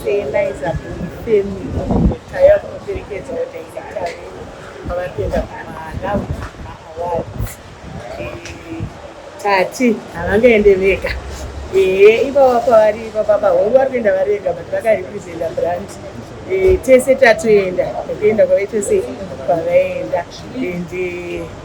Senaiza Bhumifemi Taya kunoperekedza vadirector vedu pavari kuenda kumaAwards. Eh, Tati havangaende vega. Ehe, ipava pavari ipapa pahoro vari kuenda vari vega but vakarepresenta brand. Eh, Tese tatoenda, tokuenda kwave tese kwavaenda. And eh,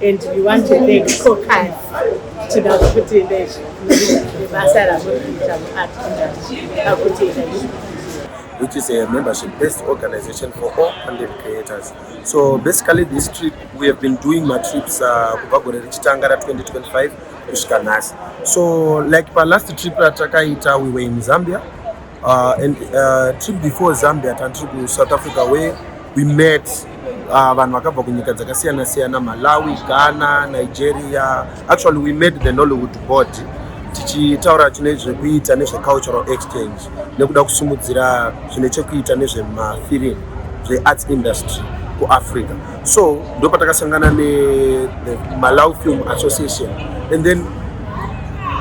And we want to thank Cocas tinoda kuti nebasa ramurikuita muart industry akuti which is a membership-based organization for all content creators. So basically this trip, we have been doing my trips uh, kubva gore rechitanga ra 2025 kusvika nhasi. So like pa last trip ratakaita, we were in Zambia, Uh, and uh, trip before Zambia tandiri ku South Africa where we met uh, vanhu vakabva kunyika dzakasiyana siyana Malawi, Ghana, Nigeria. Actually we met the Nollywood board tichitaura chine zvekuita nezvecultural exchange nekuda kusimudzira zvine chekuita nezvemafirimu zvearts industry kuafrica. so ndo patakasangana nemalaw film association and then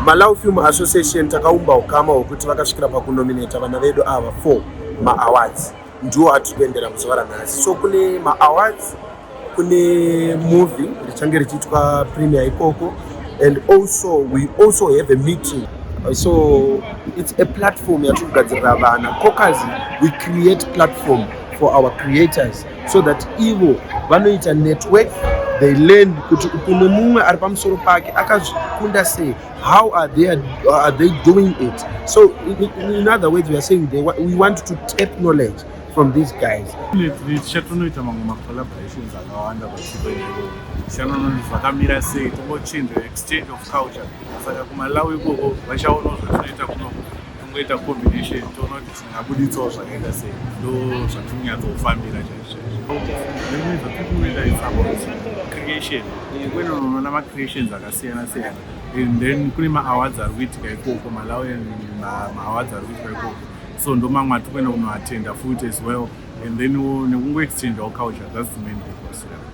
malaw film association takaumba ukama hwekuti vakasvikira pakunominata vana vedu ava four maawards ndiwo atiri kuendera muzuva ranhasi so kune maawards kune movie richange richiitwa premier ikoko and also we also have a meeting so it's a platform yatiri kugadzirira vana cocazi we create platform for our creators so that ivo vanoita network they learn kuti umwe mumwe ari pamusoro pake akazvikunda sei how are they, are they doing it so in, in other words we are saying they, we want to tap knowledge from these guys tichatonoita mamwe macollaborations akawanda vachivaisanononi zvakamira sei tongochinja exchange of culture saka kumalawi ikoko vachaona zvatoita kuno tongoita combination toona kuti ndabuditsawo zvakaita sei ndo zvatirikunyatsofambira chaizvozvocreation kwene unoona macreations akasiyana siyana and then kune maawards ari kuitika ikoko malawi maawards ari kuitika ikoko so ndo mamwe ati kwene unoatenda futi as well and then nekungoexchangeawo culture thats the main purpose